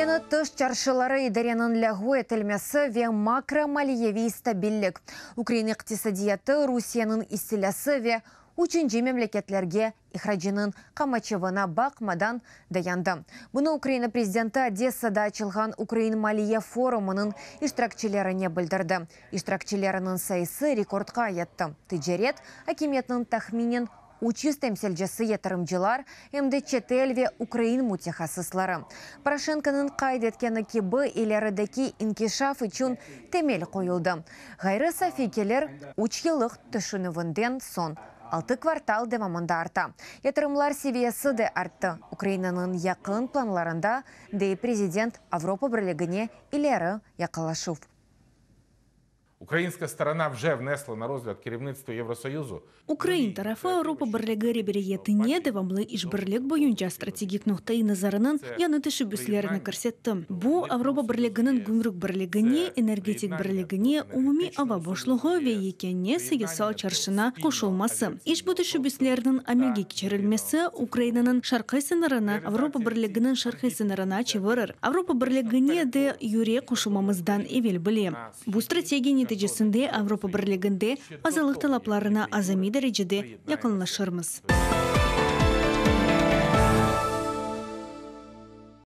Yañı tış çarşıları idareniñ lâğu etilmesi ve makromaliyeviy stabillik, ukrain iqtisadiyatı Rusiyeniñ istilâsı ve üçünci memleketlerge ihracınıñ qamaçavına baqmadan dayandı. Bunı Ukraina prezidenti Odessada açılğan ukrain maliye forumınıñ iştirakçilerine bildirdi. İştirakçileriniñ sayısı rekordqa yetti, ticaret, akimiyetniñ tahminen üç yüz temsilcisi yatırımcılar, em de çetel ve ukrain mütehassısları, Poroşenkonıñ qayd etkeni kibi, ilerideki inkişaf içün temel qoyuldı. Ğayrı safiy gelir üç yıllıq tüşünüvinden soñ altı kvartal devamında arta, yatırımlar seviyesi de arttı, Ukrainanıñ yaqın planlarında, dey prezident, Avropa Birligine ileri yaqınlaşuv. Ukrainska strona vje vnesla na rozlâd kerevnitstvu Evrosoyuzu. Ukrain tarafı Avropa Birligi reberiyetine devamlı işbirlik boyunca strategik noqta-i nazarınıñ yañı teşebbüslerini kirsetti. Bu, Avropa Birliginiñ gümrük birligine, energetik birligine, umumiy ava boşluğı ve yekâne sayısal çarşına qoşulması. İşbu teşebbüslerniñ amelge keçirilmesi Ukrainanıñ şarqiy sıñırını Avropa Birliginiñ şarqiy sıñırına çevirir. Avropa Birligine de yüre qoşulmamızdan evel bile. Bu strategiya neticesinde Avropa Birliginde azalıq talaplarına azamiy derecede yaqınlaşırmız.